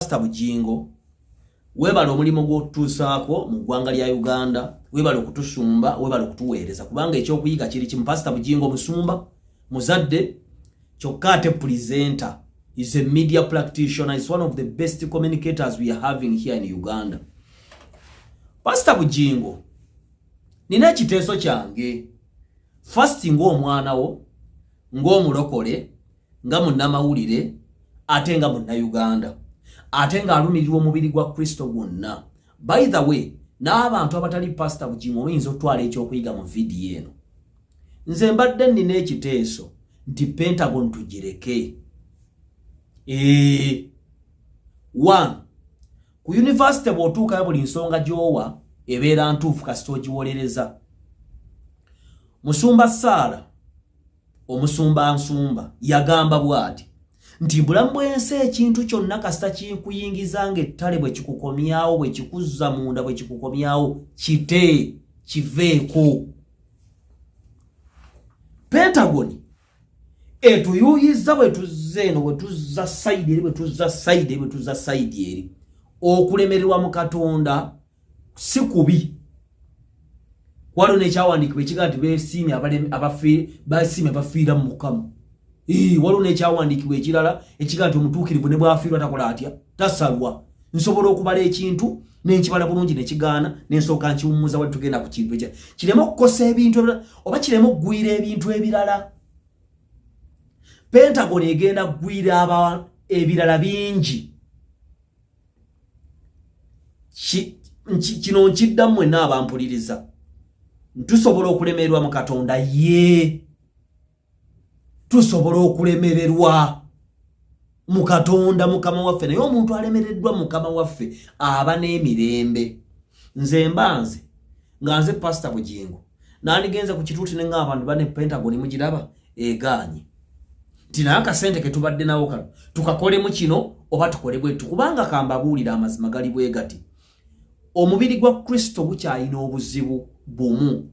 Pastor Bujingo webale omulimu gwotutuusaako mu ggwanga lya Uganda webale okutusumba webale okutuweereza kubanga ekyokuyiga kiri kimu Pastor Bujingo musumba muzadde kyokka ate presenter is a media practitioner is one of the best communicators we are having here in Uganda Pastor Bujingo nina ekiteeso kyange first ng'omwana wo ng'omulokole nga munnamawulire ate nga munnayuganda ate ng'alumirirwa omubiri gwa kristo gwonna by the way n'abantu abatali pasita bugingo oyinza okutwala ekyokuyiga mu vidiyo eno nze mbadde nnina ekiteeso nti pentagon tugireke ee one ku yunivasite bw'otuukayo buli nsonga gy'owa ebeera ntuufu kasita ogiwolereza musumba saala omusumba nsumba yagamba bwati nti bulamu bw'ensi ekintu kyonna kasita kinkuyingiza ng'ettale bwe kikukomyawo bwe kikuzza munda bwe kikukomyawo kite kiveeko pentagoni etuyuyizza bwe tuzza eno bwe tuzza sayidi eri bwe tuzza sayidi eri bwe tuzza sayidi eri okulemererwa mu katonda si kubi waliwo nekyawandiikibwa ekiga nti besiimye basiimye abafiira mu mukama waliwo nekyawandiikibwa ekirala ekiga nti omutuukirivu ne bwafiirwa takola atya tasalwa nsobola okubala ekintu nenkibala bulungi nekigaana nensooka nkiwummuza wali tugenda ku kintu ekya kireme okukosa ebintu ebirala oba kireme okugwira ebintu ebirala pentagon egenda kugwira aba ebirala bingi kino nkiddamu mwenna abampuliriza ntusobola okulemererwa mu katonda yee tusobola okulemererwa mu katonda mukama waffe naye omuntu alemereddwa mukama waffe aba n'emirembe nze mbanze nga nze pasita bugingo nandigenze ku kituuti ne ngamba nti bane pentagon mugiraba egaanye nti naye akasente ke tubadde nawo kano tukakolemu kino oba tukole bwetu kubanga kambabuulira amazima gali bwe gati omubiri gwa kristo gukyalina obuzibu bumu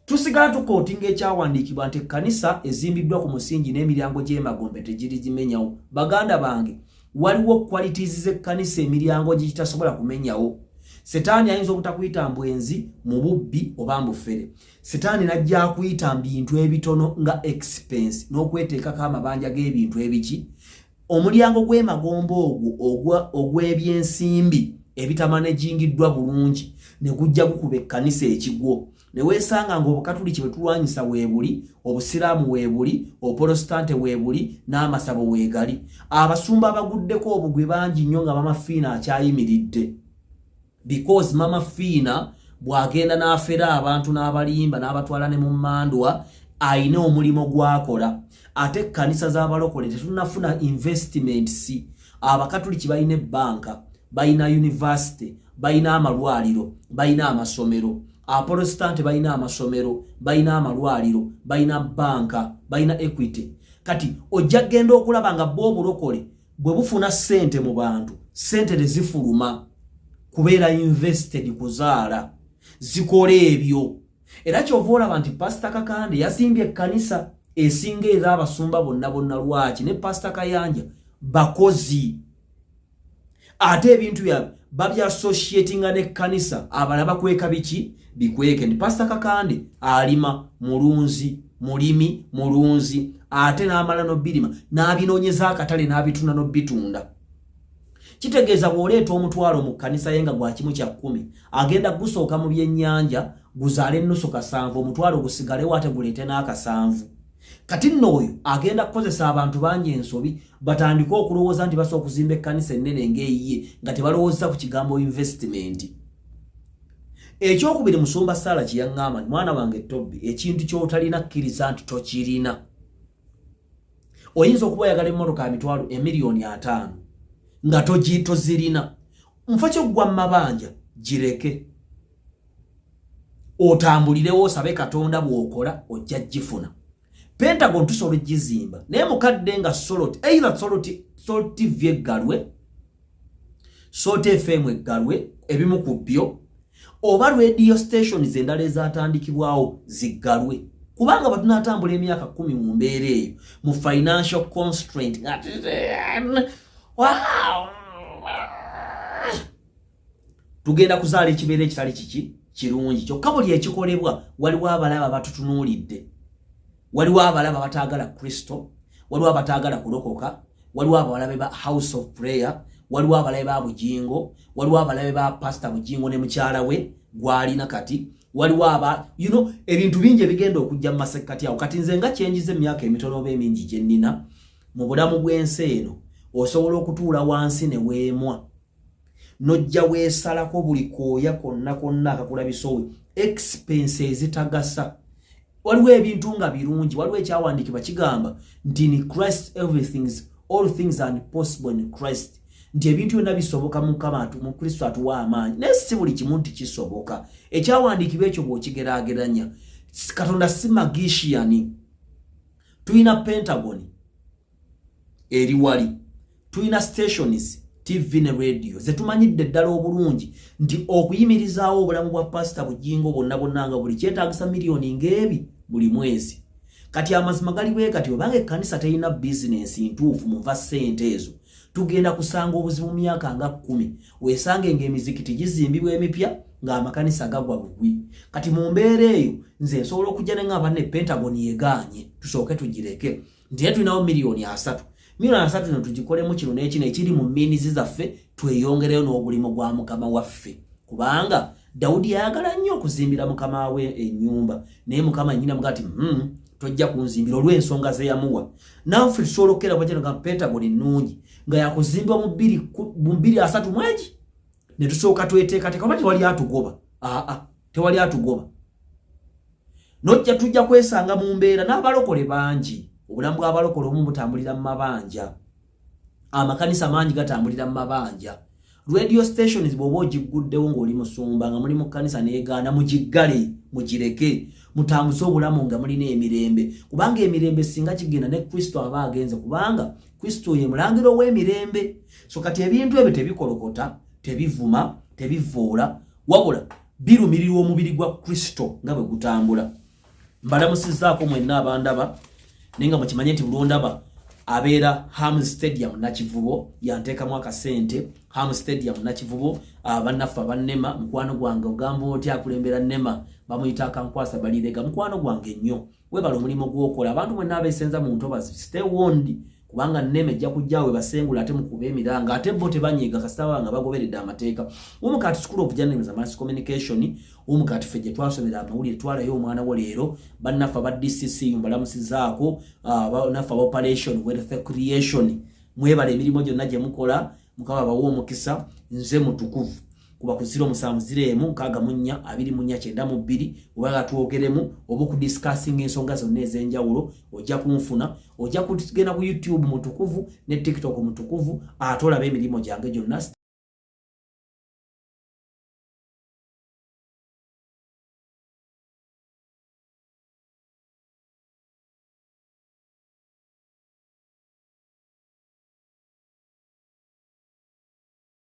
tusigala tukooti ng'ekyawandiikibwa nti ekkanisa ezimbiddwa ku musingi n'emiryango gy'emagombe tegirigimenyawo baganda bange waliwo qualities z'ekkanisa emiryango gye gitasobola kumenyawo setaani ayinza obutakuyita mbwenzi mu bubbi oba mbufere setaani najja akuyita mbintu ebitono nga expense n'okweteekako amabanja g'ebintu ebiki omulyango gw'emagomba ogwo ogw'ebyensimbi ebitamanegingiddwa bulungi ne gujja gukuba ekkanisa ekigwo ne weesanga ng'obukatuliki bwe tulwanyisa weebuli obusiraamu weebuli opolositante weebuli n'amasabo weegali abasumba abaguddeko obugwi bangi nnyo nga mama fiina akyayimiridde because mama fiina bw'agenda n'afera abantu n'abalimba n'abatwala ne mu mmandwa alina omulimu gw'akola ate ekkanisa z'abalokole tetunafuna investiments abakatuliki balina ebbanka balina yunivasite balina amalwaliro balina amasomero aporositante balina amasomero balina amalwaliro balina banka balina equity kati ojja genda okulaba nga bo obulokole bwe bufuna ssente mu bantu ssente tezifuluma kubeera invested kuzaala zikola ebyo era kyova olaba nti pasita kakande yasimbye ekkanisa esinga era abasumba bonna bonna lwaki ne pasita kayanja bakozi ate ebintu byabwe babyasociatinga n'ekkanisa abala bakweka biki bikweke nti pasita kakande alima mulunzi mulimi mulunzi ate n'amala nobirima n'abinoonyeza akatale n'abitunda nobitunda kitegeeza bw'oleeta omutwalo mu kkanisa ye nga gwa kimu kya kkumi agenda gusooka mu byennyanja guzaale ennusu kasanvu omutwalo gusigalewo ate guleete n'akasanvu kati nno oyo agenda kukozesa abantu bangi ensobi batandike okulowooza nti basobola okuzimba ekkanisa ennene ng'eyiye nga tebalowoozesa ku kigambo investimenti ekyokubiri musumba saala kye yaŋŋamba nti mwana wange tobbi ekintu ky'otalina kkiriza nti tokirina oyinza okuba oyagala emmotoka ya mitwalo emiliyoni ataano nga togitozirina nfa kyoggwa mu mabanja gireke otambulirewo osabe katonda bw'okola ojja gifuna pentagon tusobola okugizimba naye mukadde nga solot either solot soltivye galwe Short FM eggalwe ebimu ku byo oba radio station zendala ezatandikibwawo ziggalwe kubanga batunatambula emyaka kumi mu mbeera eyo mu financial constraint tugenda kuzaala ekibeera ekitali kiki kirungi kyokka buli ekikolebwa waliwo abalaba batutunuulidde waliwo abalaba bataagala kristo waliwo abataagala kulokoka waliwo abalabe ba house of prayer waliwo abalabe ba bujingo waliwo abalabe ba pasita bujingo ne mukyala we gwalina kati waliwo aba you know ebintu bingi ebigenda okujja mu masekkati awo kati nze nga kyenjiza emyaka emitono oba emingi gye nnina mu bulamu bw'ensi eno osobola okutuula wansi ne weemwa nojja weesalako buli kooya konna konna akakulabisowe expense ezitagasa waliwo ebintu nga birungi waliwo ekyawandiikibwa kigamba nti ni christ everythings all things and possible in christ nti ebintu byonna bisoboka mukama mu kristo atuwa amaanyi naye si buli kimu nti kisoboka ekyawandiikibwa ekyo bw'okigeraageranya katonda si magishiyani tulina pentagoni eri wali tulina stations tv ne radio zetumanyidde ddala obulungi nti okuyimirizaawo obulamu bwa pasita bujingo bwonna bwonna nga buli kyetagisa miliyoni ng'ebi buli mwezi kati amazima gali bwe kati obanga ekkanisa terina bizinensi ntuufu munva ssente ezo tugenda kusanga obuzibu mu myaka nga kkumi weesange ng'emizikiti gizimbibwa emipya ng'amakanisa gagwa bugwi kati mu mbeera eyo nze nsobola okujja ne nga banne pentagon yegaanye tusooke tugireke nti era tulinawo miliyoni asatu miliyoni asatu eno tugikolemu kino n'ekino ekiri mu miinizi zaffe tweyongereyo n'ogulimu gwa mukama waffe kubanga dawudi yayagala nnyo okuzimbira mukama we ennyumba naye mukama nyina muga ti hmm, tojja kunzimbira olw'ensonga ze yamuwa naffe tusobola okukeera kwakino nga pentagoni nnungi nga yakuzimba mu bbiri asatu mwegi ne tusooka tweteekateeka oba tewali atugoba aa tewali atugoba nojja tujja kwesanga mu mbeera n'abalokole bangi obulamu bw'abalokole omu butambulira mu mabanja amakanisa mangi gatambulira mu mabanja radio stations bwoba ogigguddewo ng'oli musumba nga muli mu kkanisa neegaana mugiggale mugireke mutambuse obulamu nga mulina emirembe kubanga emirembe singa kigenda ne kristo aba agenze kubanga kristo ye mulangira ow'emirembe so kati ebintu ebyo tebikolokota tebivuma tebivoola wabula birumirirwa omubiri gwa kristo nga bwe gutambula mbalamusizaako mwenna abandaba naye nga mukimanye nti bulondaba abeera ham stadium nakivubo yanteekamu akasente ham stadium nakivubo ah, bannaffe abannema mukwano gwange ogamba oti akulembera nema bamuyita akankwasa balireega mukwano gwange nnyo webale omulimu gwokola abantu mwenna abesenza mu ntobazi stay warned kubanga nema ejja kujja we basengula ate mukuba emiranga ate bo tebanyiga kasita baba nga bagoberedde amateeka umukati school of journalism and mass communication umukati ffe gye twasomera amawulire twalayo omwana wo leero bannaffe aba dcc mbalamusizaako ah, banaffe aba operation wealth creation mwebale emirimu gyonna gye mukola mukaba bawa omukisa nze mutukuvu kuba ku ziro musanvu ziro emu nkaaga mu nnya abiri mu nnya kyenda mu bbiri oba nga twogeremu oba okudisikasinga ensonga zonna ez'enjawulo ojja kunfuna ojja kugenda ku youtube mutukuvu ne tiktok mutukuvu ate olaba emirimu gyange gyonna